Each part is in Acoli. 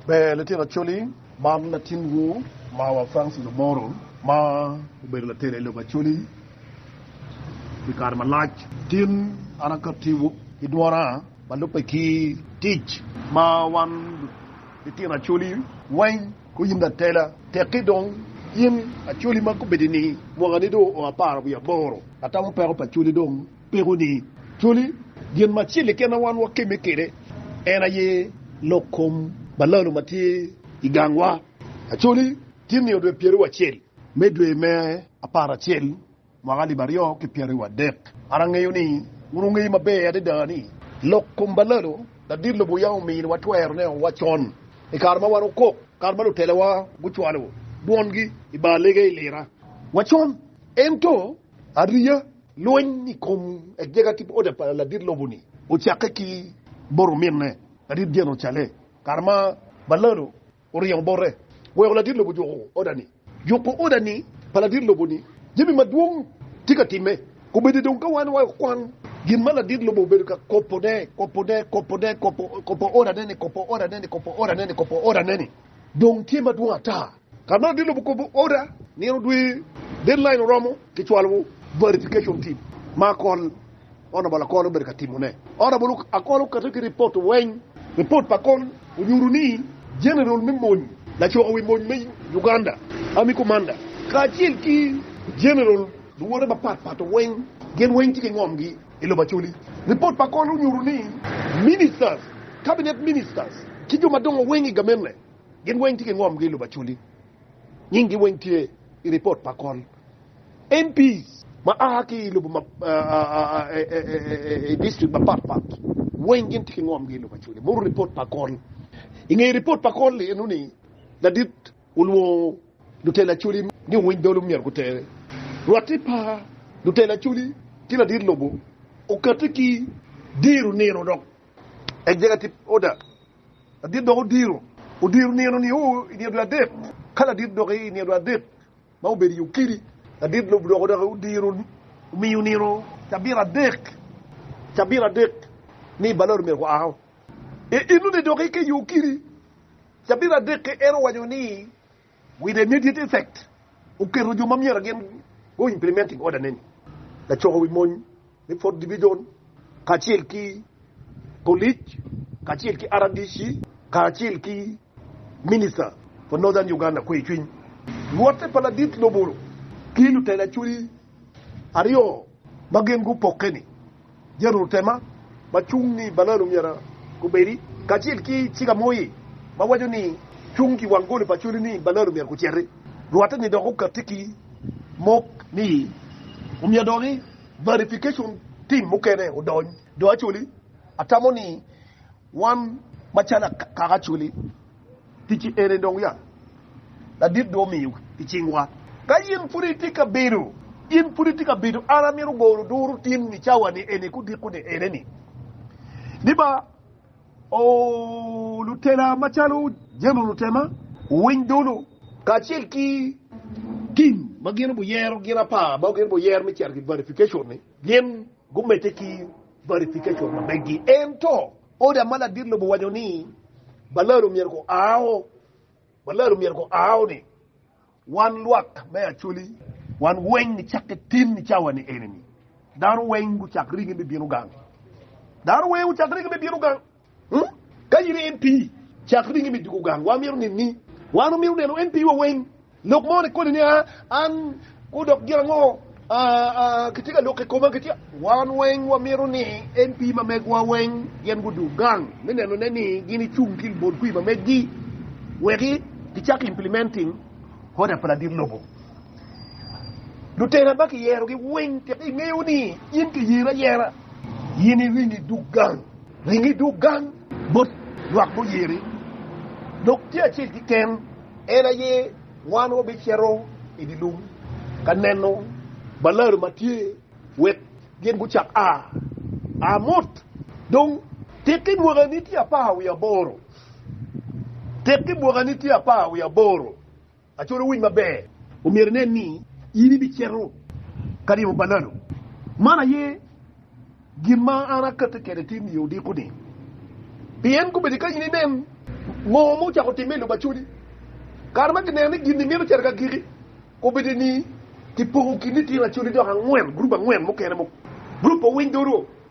Ber litino Acholi, man latinwu mawa Francis Omoro ma obedo latela i lobo Acholi pi kare malac. Tin an akattiwu ki dwona ma lubbe ki tic ma wan litino Acholi weng guyimme atela. Tekki dong in Acholi ma gubedini mwakani dong oa apar wiye aboro, atamo peko pa Acholi dong. Peko ni cwali gin ma acel keken ma wan wakemme kwede en aye lok kom balalo ma tye i gangwa. Acholi tye nino dwe pyeraryo acel me dwe me aparacel mwaka alip aryo ki pyeraryo adek. An angeyo ni wun wungeyo maber adada ni lok kom balalo ladit lobo yam omiyo watwero neno wa con i kare ma wan okok kare ma lutelowa gucwalo dwongi i bar lege i lira wa con. Ento ariya. Lweny i kom agega Tibhoda pa ladit lobo-ni ocakke ki bot ominne, ladit Jerucalem, kare ma Balalo oringo bote weko ladit lobo juko oda-ni. Juko oda-ni pa ladit lobo-ni jami madwong tye ka timme. Kobeddi dong ka wan wayo kwan gin ma ladit lobo obedo ka kobone, kobone, kobone, kobo odane-ni, kobo odane-ni, kobo odane-ni, kobo odane-ni, dong tye madwong ata! Ka nongo idye lobo kobo order nino odwe deadline oromo kicwalowu verification team ma akol honourable akol obedo ka timo ne. Honourable akol okato ki report weng. Report pa akol onyuto ni general me mony laco wi mony me Uganda army commander kacel ki general luwote mapat pat weng gin weng tye ki ngom gi I lobo Acholi. Report pa akol onyuto ni ministers, cabinet ministers ki jo madongo weng I gamente Gin weng tye ki ngomgi i lobo Acholi. Nyinggi weng tye i ripot pa kol. MPs ma a ki i lobo i district mapat pat weng gin tye ki ngomgi i lobo Acholi. Muru ripot pa kol. I nge ripot pa kol eno ni ladit olwongo lutela Acholi ni owiny dolo myero gutere. Rwate pa lutela Acholi ki ladit lobo okate ki diro nino dok executive order. Ladit dok odiro odiro nino nio i nino dwe adek. Ka ladit dok i nino dwe adek ma obedo i okidi, ladit lobo dok odok odiro omiyo nino cabit adek cabit adek ni i balor omyero gua o. I inoni dok ki i okidi cabit adek-ki en owaco ni, With immediate effect oketo jo ma myero gin go implementing order ne-ni, lacoko wi mony me Fourth Division kacel ki polic kacel ki RDC kacel ki Minister for Northern Uganda Kwecwiny Luotte pa ladit lobo ki lutela cwiny aryo ma gin gupokke-ni, Jerutema ma cung ni Balad omyero gubedi, kacel ki Cikamoye ma waco ni Cung ki wang goli pa codi ni Balad omyero guciti. Rwatte-ni dok okatti ki mok ni omyero dong ni verification team mukene odony. Do Acholi, atamo ni. Wan macalo akaka coli, ticci ene dong ya ladit dong omiyo i cingwa. Ka in pud itye ka bedo, in pud itye ka bedo, an amito golo duru tin ni cawa-ni eni ki odiko-ni ene-ni, ni ba, Oo, lutela macalo Jemo Lutema, wuwiny dulu, kacel ki tim ma gin obiyero, gin apar ma gin obiyero me cito i verification-ni, gin. gumedde ki verification ma meggi. Ento, oda ma ladit lobo owaco ni balaro myero gua o, balaro myero gua o ni, Wan lwak me Acholi, wan weng nicakke tin i cawa-ni eni-ni. Dano weng gucak rigi me bino gang. Dano weng gucak rigi me bino gang. Ka in i MP, cak ringi me juko gang. Wamito neni. Wan wamito neno MP wa weng. Lok mo ni koni ni a, an kwo dok gin ango a, a, kitye ka loko i koma, kitye ka. Wan weng wamito ni MP ma megwa weng gin gudug gang me neno ne ni gin i cung ki libol kwi ma meggi weki ki cak implementing order pa ladit lobo. Lutena ba ki yero gi weng tika i ngeyo ni in ki yeri ayera in i ringi dug gang. Winyi dog gang bot lwak guyeri, dok tye acel keken en aye wan wabicito i dye lum ka neno balaro ma tye, wek gin gucak a, a mot. Dong, tekki mwakani tye apar wiye aboro. Tekki mwakani tye apar wiye aboro. Acola owiny maber, omyero inen ni in ibicito ka ryemo pananu. Man aye gin ma an akette kede ti miyo odiko ni, pien kobedi ka in inen ngo ma ocako timme i lobo acoli, kare ma kineno ni gin-ni mito cito kagiki, kobedi ni kipoko kin litino acoli dok angwen, gurup angwen mukene, gurup pa owiny doro,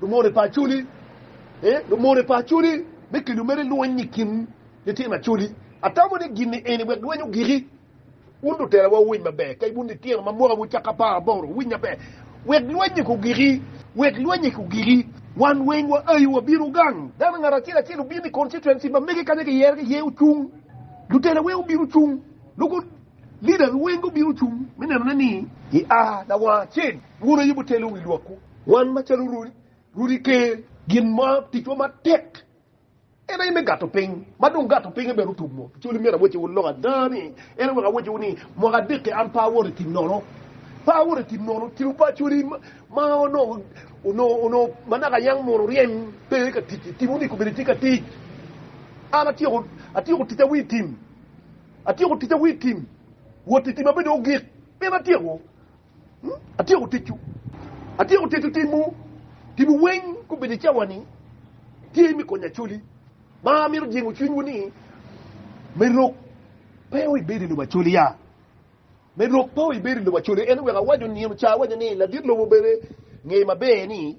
Lumony pa Acholi, Ee, lumony pa Acholi me kelo mere lweny i kin litino Acholi. Atamo ni gin-ni eni wek lweny ogiki. Wun lutelawa wuwiny maber, kadi wun litino ma mwakawu cako apar aboro, wuwiny maber wek lweny-nyi kong ogiki, wek lweny-nyi kong ogiki. Wan weng waayo wabino gang. Dano ngat acel acel obino i constituency ma mege kanya kiyero ki iye ocung. Lutela weng gubino gucung, local leaders weng gubino gucung me nenone ni i a lawang acel wun aye wutelo wi lwakwu. Wan macalo rudi, rudi ker. Gin ma ticwa matek en aye me gato piny, ma dong gato pinye bene otum mo. Ci myero awecciwu lok ada ni, en aye wek awecciwu ni, mwaka adek-ki an pe awoto i tim nono, pe awoto i tim nono. Kin opacwani ma onongo manaka yam munu ryem pe ka tic i tim, omyko bene itye ka tic. An atyeko, atyeko ticca wi tim, atyeko ticca wi tim, wot i tim abedo ogik, pien atyeko. Atyeko ticcu. Atyeko tito timwu. Timwu weng gubedo i cawani tye me konyo Acholi. Ma amito jingo cwinywu ni me rok pe o ibedo i lobo Acholi ya. Me rok pe o ibedo i lobo Acholi. En wek awaco nino ca awaco ni ladit lobo bene nge maber ni.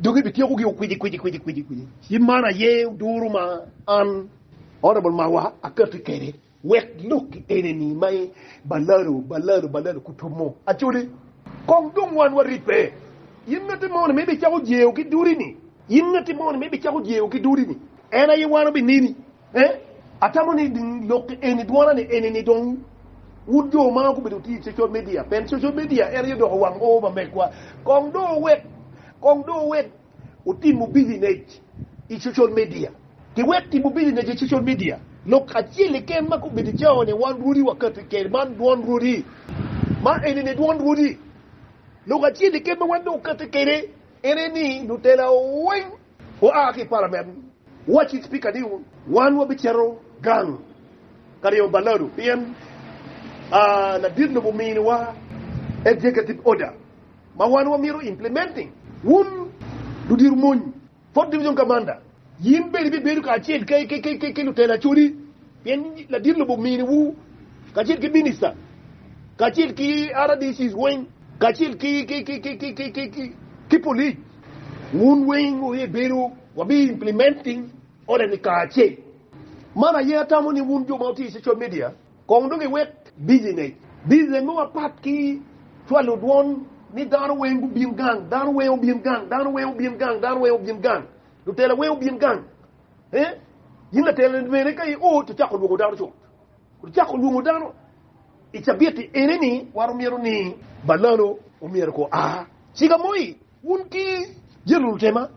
Dok ibityekogi okwici-kwici-kwici-kwici. Ci man aye oduro ma an, Honorable Marwa, akati kwede, wek lokki enini ma balalo, balalo, balalo kutumo, acoli. Kong dong wan waribbe, in ngatti moni ma ibicako jeo ki dudi-ni, in ngatti moni ma ibicako jeo ki dudi-ni, en aye wan obineni. Ee, atamo ni lok eni dwona ni eni ni dong wun jo ma gubedo wuti i cocal media, pien cocal media en aye odoko wang oo pa megwa, kong dong wuwek, kong dong wuwek wutimu bilinec i cocal media. Ki wek timo bilinec i cocal media, lok acel keken ma gubedo i cawa ni wan rwodi wakati kede man dwon rwodi, ma eni ni dwon rwodi. Lok acel keken ma wan dong wakati kede en aye ni lutela weng. oa ki i palament, wacci Cipika ni wan wabicito gang ka ryemo balado pien ladit lobo ominiwa executive order ma wan wamito implementing. Wun ludiro mony Fourth Division Commander, yin bene ibibedo kacel ki lutela acodi pien ladit lobo ominiwu kacel ki Minister kacel ki rdcs weng kacel ki police. Wun weng wuye bedo wabi implementing order ni kare acel. Man aye atamo ni wun jo ma wutye i social media kong dong iwek busy ngec. Busy me wa pat ki cwalo dwon ni dano weng gubin gang, dano weng obin gang, dano weng obin gang, dano weng obin gang, lutela weng obin gang. Eeh, in latela ni bene ka i ot icako lwongo dano cut. Ocako lwongo dano i cabit-ti ene-ni, wan omyero ni, Balano omyero ko a ciga moi. Wun ki jel lutema,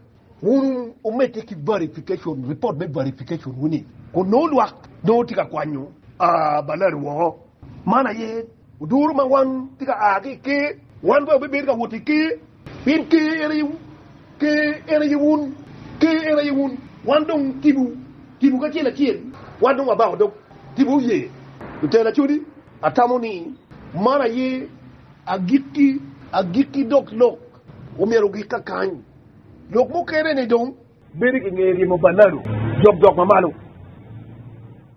wun wumedde ki verification, ripot me verification wu-ni, kun nongo lwak nongo tye ka kwanyo a balano woko. Man aye oduro ma wan tye ka a ki i Ker. Wan bene wabibedo ka wot i Ker. Pien ker en aye wun, ker en aye wun, ker en aye wun. Wan dong tipo, tipo kacel acel, wan dong wabako dog tipo oye. Lutela codi, atamo ni man aye agikki, agikki dok lok omyero ogik kakany. Lok mukene ni dong. Bedo ki nge ryemo pa Lalu jokjok mamalo.